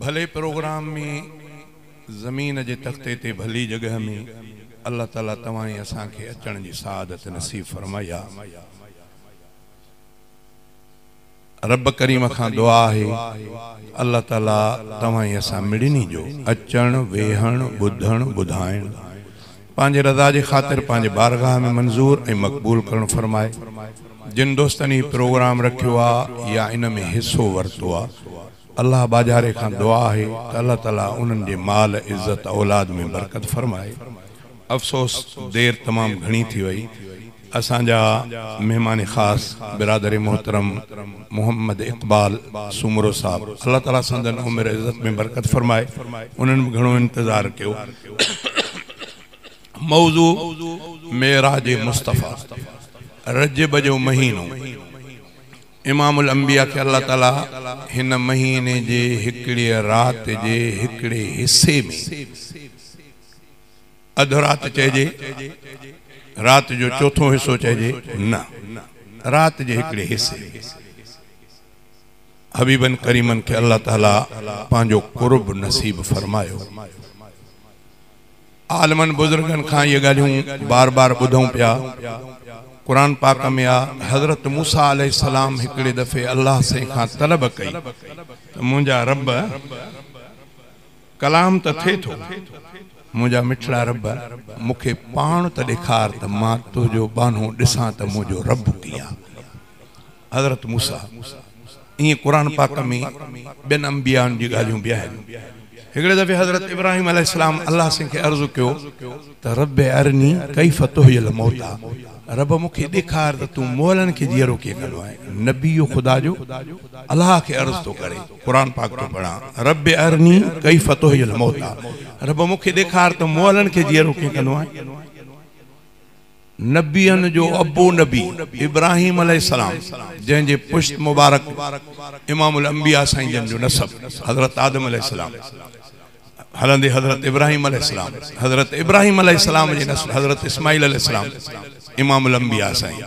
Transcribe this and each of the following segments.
ڀلي پروگرام ۾ زمين جي تختي تي ڀلي جڳهه ۾ الله تعالي توهان ۽ اسان کي اچڻ جي سعادت نصيب فرماء يا رب ڪريم کان دعا آهي الله تعالي توهان ۽ اسان مڙني جو اچڻ ويهڻ ٻڌڻ ٻڌائڻ پنهنجي رضا جي خاطر پنهنجي بارگاهه ۾ منظور ۽ مقبول ڪرڻ فرمائي. جن دوستن هي پروگرام رکيو آ يا ان ۾ حصو ورتو آ الله ٻاجهاري کان دعا آهي ته الله تعالي انهن جي مال عزت اولاد ۾ برڪت فرمائي افسوس دير تمام گهڻي ٿي وئي. اسان جا مهمان خاص برادر محترم محمد اقبال سومرو صاحب الله تعالي سندن عمر عزت ۾ برڪت فرمائي انهن به گهڻو انتظار ڪيو موضوع معراج مصطفيٰ رجب جو مهينو امام الانبياء کي الله تعالي هن مهيني جي هڪڙيء رات جي هڪڙي حصي ۾ اڌ رات چئجي، رات جو چوٿون حصو چئجي، نه، رات جي هڪڙي حصي ۾. حبيبن ڪريمن کي الله تعاليٰ پنهنجو قرب نصيب فرمايو. عالمن بزرگن کان اهي ڳالهيون بار بار ٻڌون پيا. قرآن پاڪ ۾ آ حضرت موسيٰ عليه السلام هڪڙي دفعي الله سائين کان طلب ڪئي ته منهنجا رب! ڪلام ته ٿئي ٿو، منهنجا مٺڙا رب، مون کي پاڻ ته ڏيکار ته مان تنهنجو ٻانهو ڏسان ته منهنجو رب ڪيئن آ؟ حضرت موسيٰ، ائين قرآن پاڪ ۾ ٻين انبيائن جي ڳالهيون به آهن. هڪڙي دفعي حضرت ابراهيم عليه السلام الله سين کي عرض ڪيو ته ربّ ارني ڪيف تحيي الموتٰي، رب مون کي ڏيکار ته تون مئلن کي جيئرو ڪيئن ڪندو آهين؟ نبي خدا جو الله کي عرض ٿو ڪري. قرآن پاڪ ٿو پڙهان. ربّ ارني ڪيف تحيي الموتٰي رب مون کي ڏيکار ته مئلن کي جيئرو ڪيئن ڪندو آهين. نبين جو ابو نبي ابراهيم عليه السلام جنهن جي پشت مبارڪ امام الانبياء سائين جن جو نسب حضرت آدم عليه السلام هلندي حضرت ابراهيم عليه السلام حضرت ابراهيم عليه السلام جي نسل حضرت اسماعيل عليه السلام امام الانبياء سائين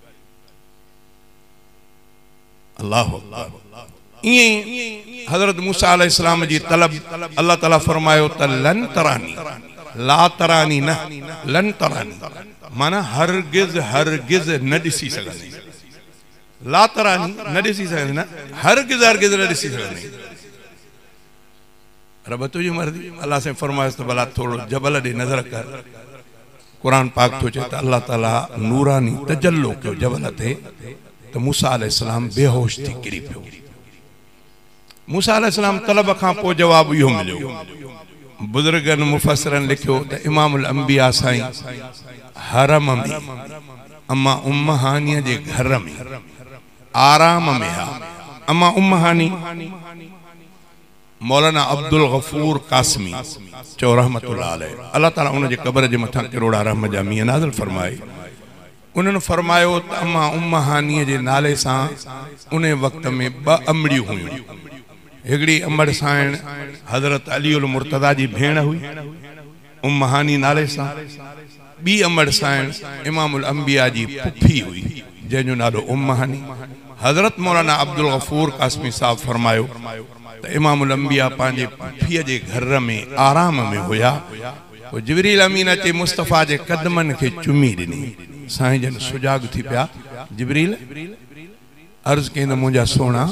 الله اڪبر ائين حضرت موسيٰ عليه السلام جي طلب الله تعالي فرمايو ته لن تراني لا تراني نه لن تراني معنيٰ هرگز هرگز نه ڏسي سگهندين لا تراني نه ڏسي سگهندين نه هرگز هرگز نه ڏسي سگهندين رب تنهنجي مرضي. الله سائين فرمايس ته ڀلا ٿورڙو جبل ڏي نظر ڪر. قرآن پاڪ ٿو چئي ته الله تعاليٰ نوراني تجلو ڪيو جبل تي ته موسيٰ عليه السلام بيهوش ٿي ڪري پيو. موسيٰ عليه السلام طلب کان پوء جواب اهو مليو. بزرگن مفسرن لکيو ته امام الانبياء سائين حرم ۾ اما ام هانيء جي گهر ۾ آرام ۾ ها. اما ام هاني. مولانا عبدالغفور قاسمي چيو رحمة الله عليه الله تعالي ان جي قبر جي مٿان ڪروڙها رحم جا مينهن نازل فرمائي انهن فرمايو ته اما ام هانيء جي نالي سان انهي وقت ۾ ٻه امڙيون هيون هڪڙي امڙ سائڻ حضرت علي المرتضيٰ جي ڀيڻ هئي ام مهاني نالي سان ٻي امڙ سائڻ امام الانبياء جي پڦي هئي، جنهن جو نالو ام مهاني. حضرت مولانا عبدالغفور قاسمي صاحب فرمايو ته امام الانبياء پنهنجي پڦيء جي گهر ۾ آرام ۾ هيا، پوء جبريل امين اچي مصطفيٰ جي قدمن کي چمي ڏني. سائين جن سجاڳ ٿي پيا، جبريل! عرض ڪيائين ته منهنجا سهڻا!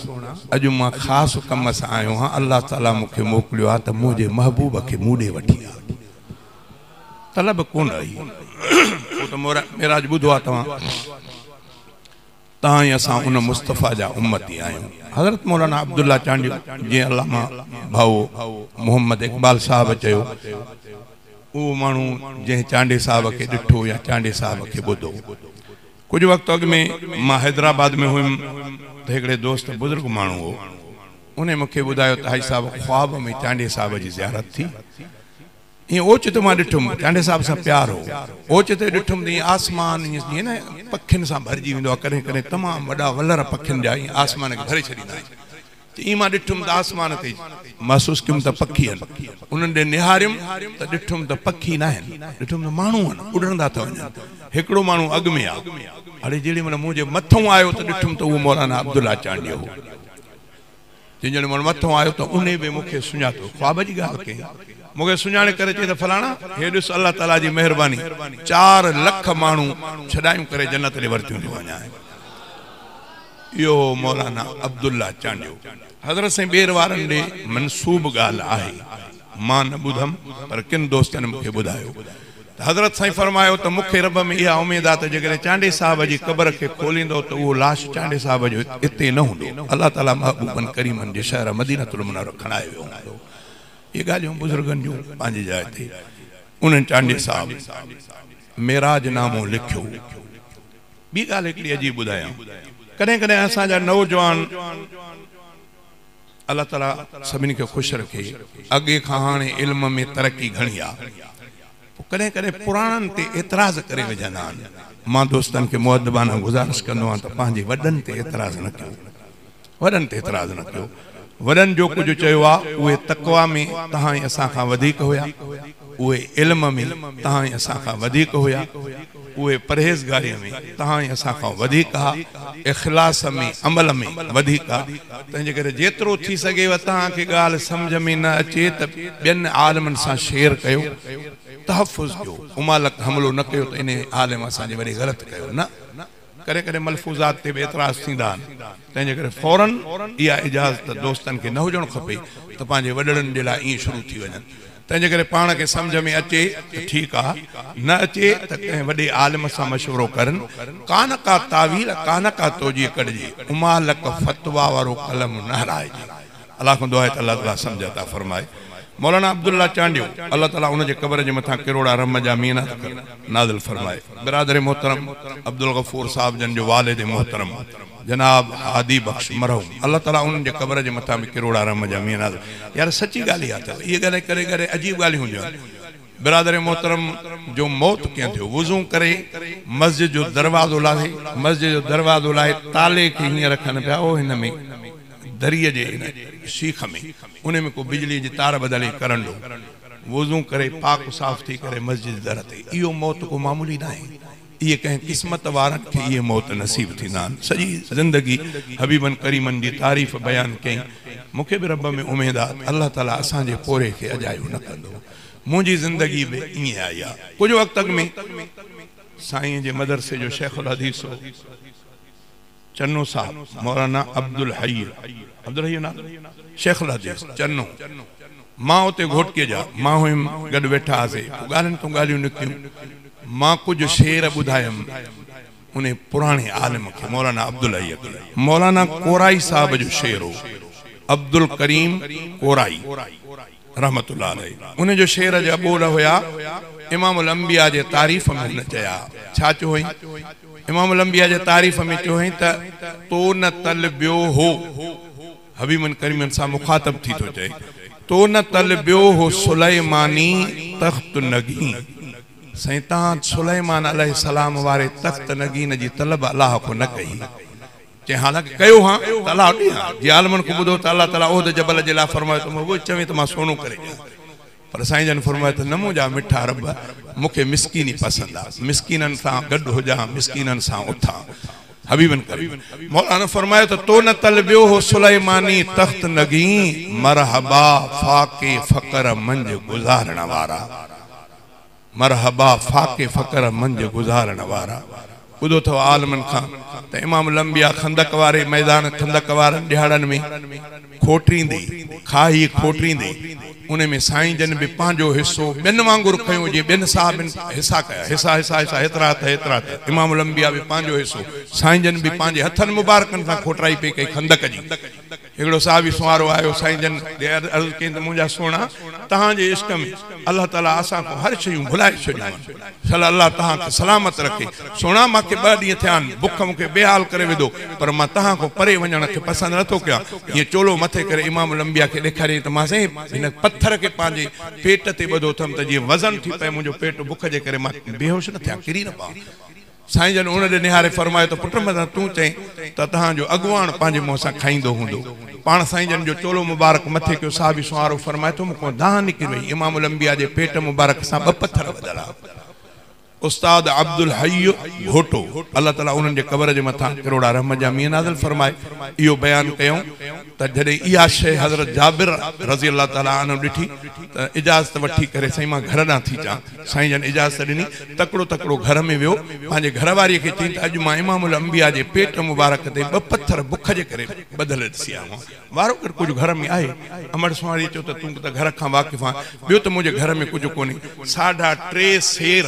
اڄ مان خاص ڪم سان آيو آهيان، الله تعاليٰ مون کي موڪليو آهي ته منهنجي محبوب کي مون ڏي وٺي آ. طلب ڪونه هئي، ڇو ته معراج ٻڌو آهي توهان تان ئي اسان ان مصطفيٰ جا امتي آهيون. حضرت مولانا عبدالله چانڊيو جنهن علامه ڀائو محمد اقبال صاحب چيو، اهو ماڻهو جنهن چانڊي صاحب کي ڏٺو يا چانڊي صاحب کي ٻڌو، ڪجهه وقت اڳ ۾ مان حيدرآباد ۾ هيم ته هڪڙي دوست بزرگ ماڻهو هو انهي مون کي ٻڌايو ته حاجي صاحب خواب ۾ چانڊيي صاحب جي زيارت ٿي ائين اوچتو مان ڏٺم چانڊيي صاحب سان پيار هو اوچتو ڏٺم ته ائين آسمان ائين جيئن نه پکين سان ڀرجي ويندو آهي ڪڏهن ڪڏهن تمام وڏا ولر پکين جا ائين آسمان کي ڀري ڇڏيندا آهن ته ايئن مان ڏٺم ته آسمان تي محسوس ڪيم ته پکي آهن، انهن ڏي نهاريم ته ڏٺم ته پکي ناهن، ڏٺم ته ماڻهو آهن، اڏرندا ٿا وڃن، هڪڙو ماڻهو اڳ ۾ آ، اڙي جيڏي مهل مون جي مٿئون آيو ته ڏٺم ته اهو مولانا عبدالله چانڊيو هو، چي جيڏي مهل مٿئون آيو ته انهي به مون کي سڃاتو، خواب جي ڳالهه ڪئي، مون کي سڃاڻي ڪري چئي ته فلاڻا هي ڏس الله تعاليٰ جي مهرباني چار لک ماڻهو ڇڏايون ڪري جنت ڏي ورتيون ٿيون وڃائين. اهو هو مولانا عبدالله چانڊيو. حضرت سائين ٻير وارن ڏي منسوب ڳالهه آهي. مان نه ٻڌم پر ڪن دوستن مون کي ٻڌايو ته حضرت سائين فرمايو ته مون کي رب ۾ اها اميد آ ته جيڪڏهن چانڊي صاحب جي قبر کي کوليندؤ ته اهو لاش چانڊي صاحب جو اتي نه هوندو الله تعاليٰ محبوبن ڪريمن جي شهر مدينة المنورة کڻائي ويو هوندو اهي ڳالهيون بزرگن جون پنهنجي جاء تي انهن چانڊي صاحب معراج نامو لکيو. ٻي ڳالهه هڪڙي عجيب ٻڌايان، ڪڏهن ڪڏهن اسان جا نوجوان الله تعالي سڀني کي خوش رکي اڳي کان هاڻي علم ۾ ترقي گهڻي آ پوء ڪڏهن ڪڏهن پراڻن تي اعتراض ڪري وجهندا آهن، مان دوستن کي مؤدبانه گذارش ڪندو آهيان ته پنهنجي وڏن تي اعتراض نه ڪيو. وڏن تي اعتراض نه ڪيو. وڏن جو ڪجهه چيو آ، اهي تقويٰ ۾ تهان ۽ اسان کان وڌيڪ هيا، اهي علم ۾ تهان ۽ اسان کان وڌيڪ هيا، اهي پرهيزگاريء ۾ تهان ۽ اسان کان وڌيڪ ها، اخلاص ۾، عمل ۾، وڌيڪ ها. تنهنجي ڪري جيترو ٿي سگهيو تهان کي ڳالهه سمجهه ۾ نه اچي ته ٻين عالمن سان شيئر ڪيو، تحفظ ڪيو، امالڪ حملو نه ڪيو ته انهيء عالم اسان جي وري غلط ڪيو نه. ڪڏهن ڪڏهن ملفوظات تي به اعتراض ٿيندا آهن، تنهن جي ڪري فوراً اها اجازت دوستن کي نه هجڻ کپي ته پنهنجي وڏڙن جي لاء ائين شروع ٿي وڃن. تنهن جي ڪري پاڻ کي سمجهه ۾ اچي ته ٺيڪ آ، نه اچي ته ڪنهن وڏي عالم سان مشورو ڪرن، ڪانه ڪا تاويل، ڪانه ڪا توجيه ڪڍجي، امالڪ فتويٰ وارو قلم نه هلائجي. الله کان دعا آهي ته الله تعالي سمجهه عطا فرمائي مولانا عبدالله چانڊيو الله تعالي ان جي قبر جي مٿان ڪروڙا رحم جا مينات ڪر نازل فرمائي برادر محترم عبدالغفور صاحب جن جو والد محترم جناب هادي بخش مرحوم الله تعالي انهن جي قبر جي مٿان به ڪروڙا رحم جا مينات يار سچي ڳالهه اها اٿو اهي ڳالهه ڪڏهن ڪڏهن عجيب ڳالهيون هونديون آهن برادر محترم جو موت ڪيئن ٿيو؟ وضو ڪري مسجد جو دروازو لاهي. مسجد جو دروازو لاهي تالي کي هيئن رکن پيا او هن ۾ دريء جي هن شيخ ۾ انهي ۾ ڪو بجلي جي تار ٻڌل هئي ڪرنڊو. وضو ڪري پاڪ صاف ٿي ڪري مسجد جي در تي. اهو موت ڪو معمولي ناهي. اهي ڪنهن قسمت وارن کي اهي موت نصيب ٿيندا آهن. سڄي زندگي حبيبن ڪريمن جي تعريف بيان ڪيائين. مون کي به رب ۾ اميد آ ته الله تعاليٰ اسان جي پورهيي کي اجايو نه ڪندو. منهنجي زندگي به ائين آئي آ. ڪجهه وقت اڳ ۾ سائين جي مدرسي جو شيخ الحديث هو. چنو صاحب مولانا عبدالحئي، عبدالحئي جو نالو، شيخ الحديث چنو، مان اتي گهوٽڪي جا، مان هيم، گڏ ويٺا هئاسي، پوء ڳالهين تون ڳالهيون نڪتيون، مان ڪجهه شعر ٻڌايم انهي پراڻي عالم کي، مولانا عبدالحئي کي، مولانا ڪورائي صاحب جو شعر هو، عبدالڪريم ڪورائي، رحمة الله عليه ان جو شعر جا ٻول هيا امام الانبياء جي تعريف ۾ هن چيا ڇا چيو هئين امام الانبياء جي تعريف ۾ چيو هئين ته تو نه طلبيو هو حبيبن ڪريمن سان مخاطب ٿي ٿو چئي تو نه طلبيو هو سليماني تخت نگين سائين تان سليمان عليه السلام واري تخت نگين جي طلب الله کون نه ڪئي چيائين، حالانڪه ڪيو هان ته الله ڏي هان. جي عالمن کان ٻڌو ته الله تعاليٰ احد جبل جي لاء فرمايو ته مون اهوئي چوين ته مان سونو ڪري ڏيان. پر سائين جن فرمايو ته نه منهنجا مٺا رب، مون کي مسڪيني پسند آ. مسڪينن سان گڏ هجان، مسڪينن سان اٿان. حبيبن ڪريم مولان نه فرمايو ته تو نه طلبيو هو سليماني تخت نگين، مرحبا فاقي فقر منجهه گذارڻ وارا. مرحبا فاقي فقر منجهه گذارڻ وارا ٻڌو ٿو عالمن کان ته امام الانبياء خندق واري ميدان خندق وارن ڏهاڙن ۾ کوٽريندي کاهي کوٽريندي ان ۾ سائين جن به پنهنجو حصو ٻين وانگر کنيو جي ٻين صحابين حصا ڪيا حصا حصا حصا هيترا هٿ هيترا هٿ امام الانبياء به پنهنجو حصو سائين جن به پنهنجي هٿن مبارڪن سان کوٽرائي پئي ڪئي خندق جي هڪڙو صحابي سنوارو آيو سائين جن ڏي عرض ڪيائين ته منهنجا سهڻا توهان جي عشق ۾ الله تعاليٰ اسان کان هر شيون ڀلائي ڇڏيون آهن صلّي الله توهان کي سلامت رکي سهڻا مان کي ٻه ڏينهن ٿيا آهن بک مون کي بيحال ڪري وڌو پر مان توهان کان پري وڃڻ کي پسند نه ٿو ڪيان ائين چولو مٿي ڪري امام الانبياء کي ڏيکاريائين ته مان سائين هن پٿر کي پنهنجي پيٽ تي ٻڌو اٿم ته جيئن وزن ٿي پئي منهنجو پيٽ بک جي ڪري مان بيهوش نه ٿيان ڪري نه پوان. سائين جن ان ڏي نهاري فرمايو ته پٽ مدن تون چئين ته توهان جو اڳواڻ پنهنجي منهن سان کائيندو هوندو. پاڻ سائين جن جو چولو مبارڪ مٿي ڪيو صحابي سنوارو فرمائي ٿو مون کان دانهن نڪري وئي امام الانبياء جي پيٽ مبارڪ سان ٻه پٿر ٻڌل ها. استاد عبدالحئي گهوٽو الله تعالي انهن جي قبر جي مٿان ڪروڙا رحمت جا مينهن نازل فرمائي اهو بيان ڪيائون. ته جڏهن اها شيء حضرت جابر رضي الله تعالٰي عنه ڏٺي ته اجازت وٺي ڪري سائين مان گهر ڏانهن ٿي چان. سائين جن اجازت ڏني، تڪڙو تڪڙو گهر ۾ ويو، پنهنجي گهر واريء کي چيائين ته اڄ مان امام الانبياء جي پيٽ مبارڪ تي ٻه پٿر بک جي ڪري ٻڌل ڏسي آيو آهيان، وارونگر ڪجهه گهر ۾ آهي؟ امڙ سونهاريء چيو ته تون ته گهر کان واقف آهين، ٻيو ته منهنجي گهر ۾ ڪجهه ڪونهي، ساڍا ٽي سير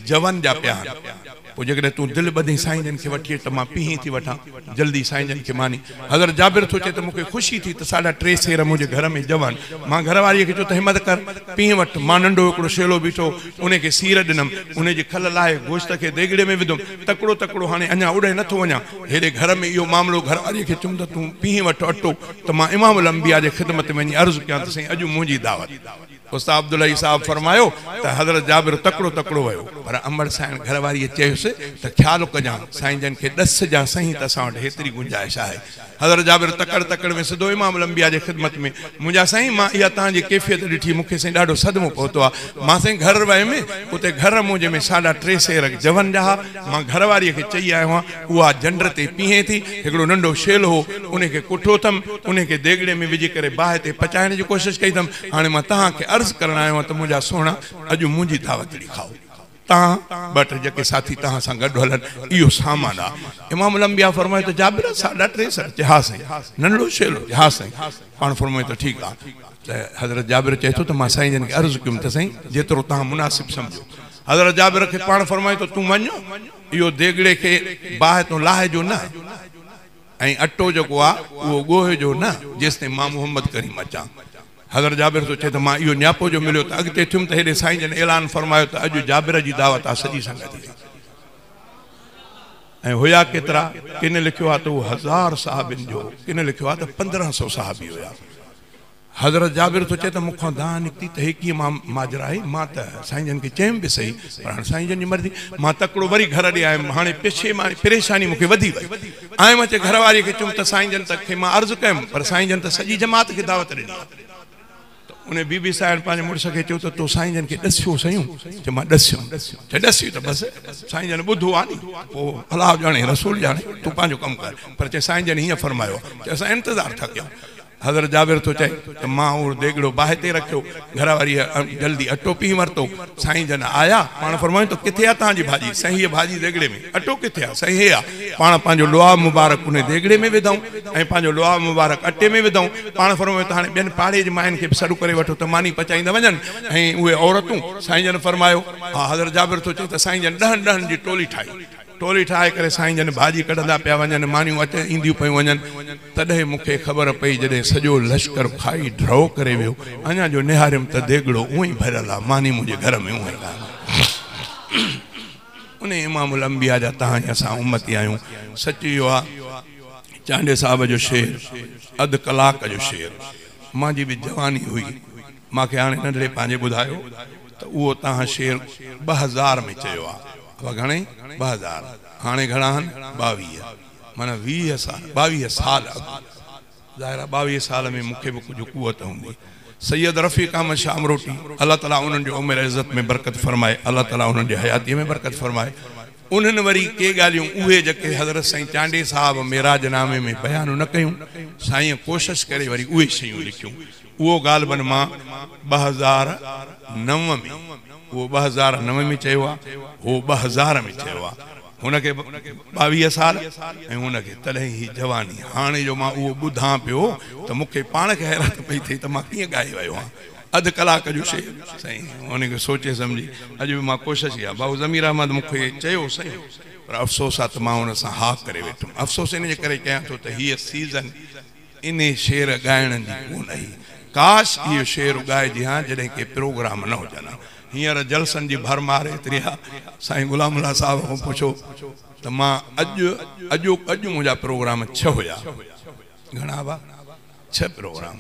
جون جا پيا آهن. پوء جيڪڏهن تون دل ٻڌين سائين جن کي وٺي اچ ته مان پيهين ٿي وٺان جلدي سائين جن کي ماني حضرت جابر ٿو چئي ته مون کي خوشي ٿي ته ساڍا ٽي سير منهنجي گهر ۾ ڄون مان گهر واريء کي چيو ته همت ڪر پيهين وٺ مان ننڍو هڪڙو شيلو بيٺو هو انهي کي سير ڏنم انهي جي کل لاهي گوشت کي ديڳڙي ۾ وڌم تڪڙو تڪڙو هاڻي اڃا اڏهي نه ٿو وڃان هيڏي گهر ۾ اهو معاملو گهر واريء کي چيم ته تون پيهين وٺ اٽو ته مان امام الانبياء جي خدمت ۾ وڃي عرض ڪيان ته سائين اڄ منهنجي دعوت استاد عبدالحئي صاحب فرمايو ته حضرت جابر تڪڙو تڪڙو ويو پر امڙ سائڻ گهر واريء چيس ته خيال ڪجان سائين جن کي ڏس جان سهين ته اسان وٽ هيتري گنجائش آهي حضرت جابر تڪڙ تڪڙ ۾ سڌو امام الانبياء جي خدمت ۾ منهنجا سائين مان اها توهان جي ڪيفيت ڏٺي مون کي سائين ڏاڍو صدمو پهتو آ مان سائين گهر ويم اتي گهر منهنجي ۾ ساڍا ٽي سير جون جا ها مان گهر واريء کي چئي آيو هان اها جنڊ تي پيهين ٿي هڪڙو ننڍو شيل هو انهي کي ڪٺو ٿم انهي کي ديڳڙي ۾ وجهي ڪري باهه تي پچائڻ جي ڪوشش ڪئي ٿم هاڻي مان توهان کي عرض ڪرڻ آيو آهيان ته منهنجا سهڻا، اڄ منهنجي دعوتڙي کائو. توهان، ٻه ٽي جيڪي ساٿي توهان سان گڏ هلن، اهو سامان آ. امام الانبياء فرمايو ته جابر، ساڍا ٽي سئو؟ چي ها سائين. ننڍڙو شيلو؟ چي ها سائين. پاڻ فرمايو ته ٺيڪ آ. ته حضرت جابر چئي ٿو ته مان سائين جن کي عرض ڪيم ته سائين، جيترو توهان مناسب سمجهو. حضرت جابر کي پاڻ فرمايو ته تون وڃ، اهو ديڳڙي کي باهه تون لاهه جو نه. ۽ اٽو جيڪو آ اهو ڳوهه جو نه جيستائين مان محمد ڪريم اچان. حضرت جابر ٿو چئي ته مان اهو نياپو جو مليو ته اڳتي ٿيم ته هيڏي سائين جن اعلان فرمايو ته اڄ جابر جي دعوت آ سڄي سنگت ايندي. ۽ هيا ڪيترا؟ ڪن لکيو آ ته اهو هزار صحابين جو ڪن لکيو آ ته پندرهن سئو صحابي هيا. حضرت جابر ٿو چئي ته مون کان دانهن نڪتي ته هي ڪيئن ماجرا آهي؟ مان ته سائين جن کي چيم به سهي پر هاڻ سائين جن جي مرضي. مان تڪڙو وري گهر ڏي آيم. هاڻي پريشاني مون کي وڌي وئي. آيم اچي گهر واريء کي چيم ته سائين جن ته کي مان عرض ڪيم پر سائين جن ته سڄي جماعت کي دعوت ڏني آهي. ته انهيء بي بي سائڻ پنهنجي مڙس کي چيو ته تو سائين جن کي ڏسيو سهيون؟ چي مان ڏسيم. چي ڏسين ته بس سائين جن ٻڌو آهي ني ته پوء الله ڄاڻي رسول ڄاڻي تون پنهنجو ڪم ڪر پر چي سائين جن هيئن فرمايو آهي. چي اسان انتظار ٿا ڪيون. حضرت جابر ٿو چئي ته مان اهو ديڳڙو باهه تي رکيو، گهر واريء جلدي اٽو پيهي ورتو، سائين جن آيا، پاڻ فرمايائون ته ڪٿي آ توهان جي ڀاڄي؟ سائين هيء ڀاڄي ديڳڙي ۾، اٽو ڪٿي آ؟ سائين هي آ، پاڻ پنهنجو لعاب مبارڪ انهي ديڳڙي ۾ وڌائون ۽ پنهنجو لعاب مبارڪ اٽي ۾ وڌائون، پاڻ فرمايائون ته هاڻي ٻين پاڙي جي ماين کي به سڏ ڪري وٺو ته ماني پچائيندا وڃن ۽ اهي عورتون، سائين جن فرمايو، ها حضرت جابر ٿو چئي ته سائين جن ڏهن ڏهن جي ٽولي ٺاهي، ٽولي ٺاهي ڪري سائين جن ڀاڄي ڪڍندا پيا وڃن، مانيون اچي اينديون پيون وڃن. تڏهن مون کي خبر پئي جڏهن سڄو لشڪر کائي ڍرو ڪري ويو. اڃا جو نهاريم ته ديڳڙو اونء ئي ڀريل آ، ماني منهنجي گهر ۾ اونء ئي آ. انهي امام الانبياء جا توهان ۽ اسان امتي آهيون. سچ اهو آ، چانڊيي صاحب جو شعر اڌ ڪلاڪ جو شعر مانجي به جواني هئي، مان کي هاڻي ننڍڙي پنهنجي ٻڌايو ته اهو توهان شعر ٻه هزار ۾ چيو آ. ابا گهڻئي؟ ٻه هزار! هاڻي گهڻا آهن؟ ٻاويهه. معنيٰ ويهه سال، ٻاويهه سال اڳ. ظاهر آهي ٻاويهه سال ۾ مون کي به ڪجهه قوت هوندي. سيد رفيق احمد شاهه امروٽي، الله تعاليٰ انهن جي عمر عزت ۾ برڪت فرمائي، الله تعاليٰ انهن جي حياتيء ۾ برڪت فرمائي. انهن وري ڪي ڳالهيون اهي جيڪي حضرت سائين چانڊيي صاحب معراج نامي ۾ بيان نه ڪيون، سائينء ڪوشش ڪري وري اهي شيون لکيون. اهو غالباً مان ٻه هزار نو ۾ اهو ٻه هزار نو ۾ چيو آهي، هو ٻه هزار ۾ چيو آهي. هن کي ٻاويهه سال ۽ هن کي تڏهن هئي جواني. هاڻي جو مان اهو ٻڌان پيو ته مون کي پاڻ کي حيرت پئي ٿئي ته مان ڪيئن ڳائي ويو هان. اڌ ڪلاڪ جو شعر سائين ان کي سوچي سمجهي اڄ به مان ڪوشش ڪئي آهي. ڀائو ضمير احمد مون کي چيو سائين پر افسوس آهي ته مان ان سان ها ڪري ويٺم. افسوس ان جي ڪري ڪيان ٿو ته هيء سيزن. انهي شعر ڳائڻ جي ڪونه هئي. ڪاش اهو شعر ڳائجي ها جڏهن ڪي پروگرام نه هجن ها. هينئر جلسن جي ڀرمار ايتري آ. سائين غلام الله صاحب کان پڇو ته مان اڄ اڄو اڄ منهنجا پروگرام ڇهه هيا. گهڻا هئا؟ ڇهه پروگرام.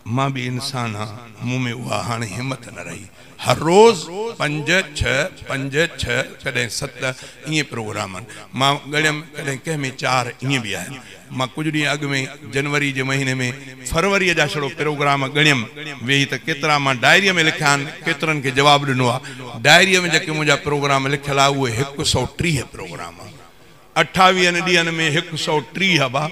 مان به انسان آ، مون ۾ اها هاڻي همت نه رهي. هر روز پنج ڇهه، پنج ڇهه، ڪڏهن ست ائين پروگرام آهن. مان ڳڻيم ڪڏهن ڪنهن ۾ چار ائين به آهن. مان ڪجهه ڏينهن اڳ ۾ جنوري جي مهيني ۾ فروريء جا ڇڙو پروگرام ڳڻيم ويهي ته ڪيترا مان ڊائريء ۾ لکيا آهن، ڪيترن کي جواب ڏنو آ. ڊائريء ۾ جيڪي منهنجا پروگرام لکيل آ، اهي هڪ سؤ ٽيهه پروگرام آ. اٺاويهن ڏينهن ۾ هڪ سؤ ٽيهه هبا،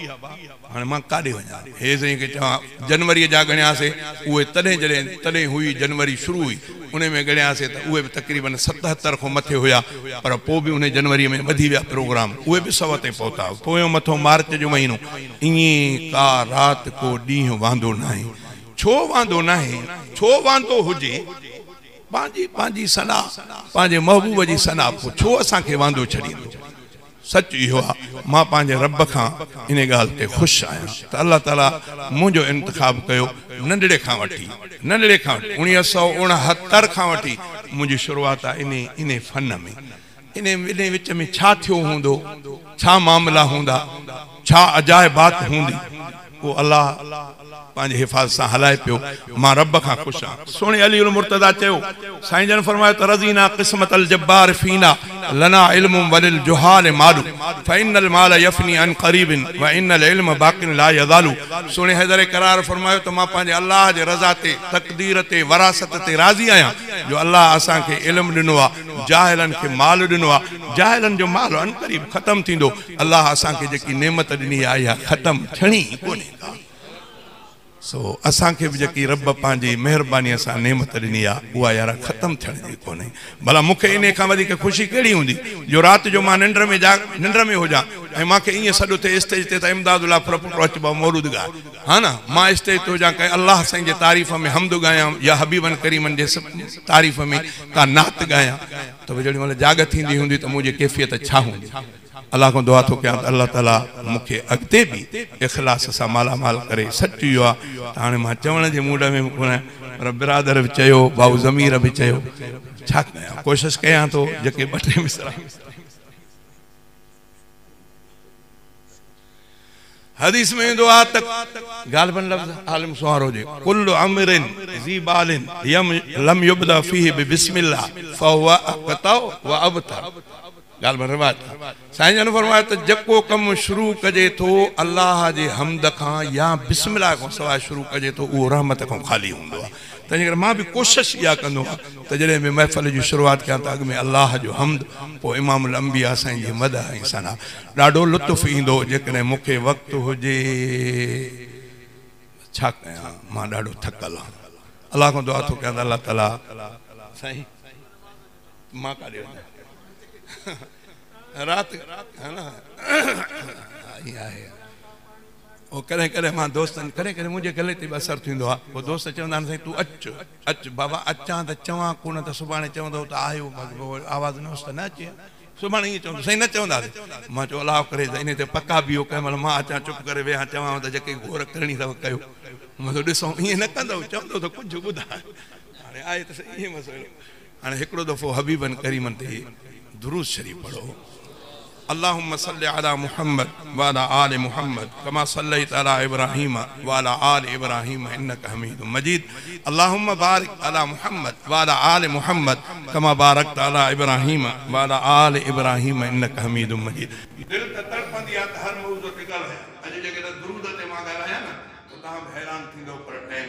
هاڻي مان ڪاڏي وڃان؟ هيء سائين کي چوان، جنوريء جا ڳڻيا سي، اهي تڏهن جڏهن تڏهن هئي، جنوري شروع هئي، انهيء ۾ ڳڻيا سي ته اهي به تقريباً ستهتر کان مٿي هيا، پر پوء به انهيء جنوريء ۾ وڌي ويا پروگرام، اهي به سؤ تي پهتا. پويون مٿو مارچ جو مهينو. ائين ڪا رات ڪو ڏينهن واندو ناهي. ڇو واندو ناهي؟ ڇو واندو هجي؟ پنهنجي پنهنجي ثنا، پنهنجي محبوب جي ثنا پوء ڇو اسان کي واندو ڇڏيندو؟ سچ اهو آهي مان پنهنجي رب کان ان ڳالهه تي خوش آهيان ته الله تعاليٰ منهنجو انتخاب ڪيو ننڍڙي کان وٺي ننڍڙي کان وٺي اڻيهه سؤ اڻهتر کان وٺي منهنجي شروعات آهي انهي انهي فن ۾. انهي ٻنهي وچ ۾ ڇا ٿيو هوندو؟ ڇا معاملا هوندا؟ ڇا عجائبات هوندي؟ اهو الله پنهنجي حفاظت سان هلائي پيو. مان رب کان خوش آهيان. سهڻي علي المرتضيٰ چيو، سائين جن فرمايو ته رضينا قسمة الجبار فينا لنا علم وللجهال مال فإن المال يفني عن قريب وإن العلم باق لا يزال سهڻي حيدر قرار فرمايو ته مان پنهنجي الله جي رضا تي، تقدير تي، وراثت تي راضي آهيان جو الله اسان کي علم ڏنو آهي جاهلن کي مال ڏنو آهي جاهلن جو مال عنقريب ختم ٿيندو الله اسان کي جيڪي نعمت ڏني آهي اها ختم ٿيڻي ئي ڪونهي ڪا سو اسان کي به جيڪي رب پنهنجي مهرباني سان نعمت ڏني آهي اها يارا ختم ٿيڻ جي ڪونهي ڀلا مون کي انهي کان وڌيڪ خوشي ڪهڙي هوندي جو رات جو مان ننڊ ۾ جاڳ ننڊ ۾ هجان ۽ مان کي ائين سڏ اٿي اسٽيج تي ته امداد الله ڦرپوٽو اچ بابا مولود ڳاء ها نه مان اسٽيج تي هجان ڪنهن الله سائين جي تعريف ۾ حمد ڳايان يا حبيبن ڪريمن جي تعريف ۾ ڪا نعت ڳايان ته به جهڙي مهل جاڳ ٿيندي هوندي ته منهنجي ڪيفيت ڇا هوندي الله کان دعا ٿو ڪيان ته الله تعالي مون کي اڳتي به اخلاص سان مالا مال ڪري سچ اهو آهي ته هاڻي مان چوڻ جي موڊ ۾ به ڪونه آهيان پر برادر به چيو ڀائو ضمير به چيو ڇا ڪيان ڪوشش ڪيان ٿو جيڪي ٻه ٽي مصرع. حديث ۾ ايندو آهي ته غالباً لفظ عالم سونهار هجي، ڪل امر ذي بال لم يبدء فيه ببسم الله فهو اقطع و ابتر. غالباً روايت آهي. سائين جن فرمايو ته جيڪو ڪم شروع ڪجي ٿو الله جي حمد کان يا بسم الله کان سواء شروع ڪجي ٿو اهو رحمت کان خالي هوندو آهي. تنهنجي ڪري مان به ڪوشش اها ڪندو آهيان ته جڏهن به محفل جي شروعات ڪيان ته اڳ ۾ الله جو حمد پوء امام الانبياء سائين جي مدح ۽ ثنا. ڏاڍو لطف ايندو هو جيڪڏهن مون کي وقت هجي ته ڇا ڪيان مان ڏاڍو ٿڪل آهيان الله کان دعا ٿو ڪيان ته الله تعالي سائين مان ڪاڏي وڃان رات ها نا ائين آهي. او ڪڏهن ڪڏهن مان دوستن ڪڏهن ڪڏهن منهنجي گلي تي به اثر ٿيندو آهي پوء دوست چوندا آهن سائين تون اچ اچ بابا اچان ته چوان ڪو نه ته سڀاڻي چوندو ته آيو مس پوء آواز نه هوس ته نه اچي ها سڀاڻي ائين چوندو سائين نه چونداسين مان چيو الاهو ڪري ته انهي تي پڪا بيهو ڪنهن مهل مان اچان چپ ڪري ويهان چوانو ته جيڪي گهور ڪرڻي اٿو ڪيو مس ڏسون ائين نه ڪندو چوندو ته ڪجهه ٻڌاء هاڻي آهي ته سهي ائين مس هاڻي هڪڙو دفعو حبيبن ڪريمن تي درود شريف پڙهو اللهم صل علي محمد وعلي آل محمد ڪما صليت علي ابراهيم وعلي آل ابراهيم انک حميد مجيد اللهم بارڪ علي محمد وعلي آل محمد ڪما بارڪت علي ابراهيم وعلي آل ابراهيم انک حميد مجيد. دل ته تڙپندي آهي ته هر موضوع تي ڳالهايان اڄ جيڪڏهن درود تي مان ڳالهايان نه ته توهان به حيران ٿيندؤ پر ٽيم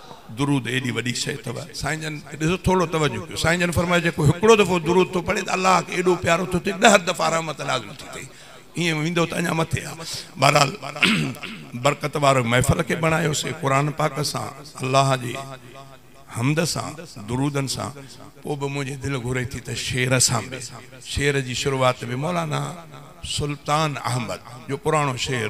درود ايڏي وڏي شيء اٿو سائين جن کي ڏسو ٿورڙو توجه ڪيو سائين جن فرمايو جيڪو هڪڙو دفعو درود ٿو پڙهي ته الله کي ايڏو پيارو ٿو ٿئي ڏهه دفعا رحمت نازل ٿي ٿئي ائين ويندو ته اڃا مٿي آ بهرحال برڪت وارو محفل کي بڻايو سي قرآن پاڪ سان الله جي حمد سان درودن سان پو به منهنجي دل گهري ٿي ته شعر سان به شعر جي شروعات به مولانا سلطان احمد جو پراڻو شعر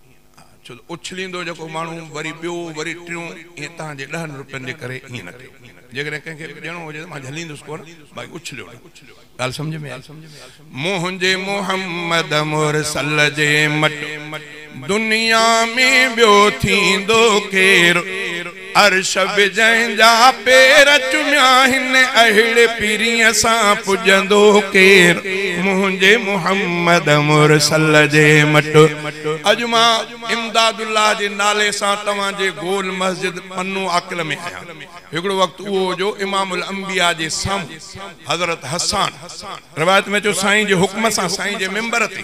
ڇو ته اڇليندو جيڪو ماڻهو وري ٻيو وري ٽيون ائين توهان جي ڏهن روپين جي ڪري ائين نه ڪيو جيڪڏهن ڪنهن کي به ڏيڻو هجي ته مان جهليندس ڪونه باقي اڇليو نه ڳالهه سمجهه ۾ آئي منهنجي محمد مرسل جي مٽ دنيا ۾ ٻيو ٿيندو ڪير. عرش به جنهن جا پير چميا هن اهڙي پرينء سان پڄندو ڪير منهنجي محمد مرسل جي مٽ. اڄ مان امداد الله جي نالي سان توهان جي گول مسجد پنو عاقل ۾ آهيان هڪڙو وقت اهو هو جو امام الانبياء جي سامهون حضرت حسان روايت ۾ اچيو سائين جي حڪم سان سائين جي ممبر تي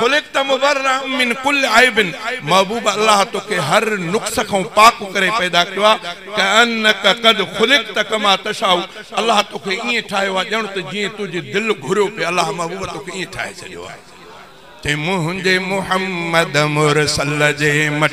خلقت مبرّا من کل عيب، محبوب الله توکي هر نقص کان پاڪ ڪري پيدا ڪيو آ، ڪأنّك قد خلقت ڪما تشاء، الله توکي ائين ٺاهيو آ ڄڻ ته جيئن تنهنجي دل گهريو پئي، الله محبوب توکي ائين ٺاهي ڇڏيو آ. تي منهنجي محمّد مرسل جي مٽ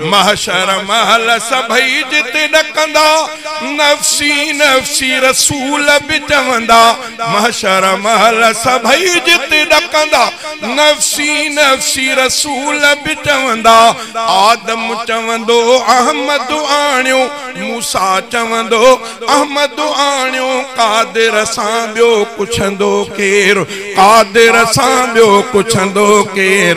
محشر مهل سڀئي جتي ڏڪندا، نفسي نفسي رسول به چوندا، محشر مهل سڀئي جتي ڏڪندا، نفسي نفسي رسول به چوندا، آدم چوندو احمد آڻيو، موسيٰ چوندو احمد آڻيو، قادر سان ٻيو پڇندو ڪير، قادر سان ٻيو پڇندو ڪير.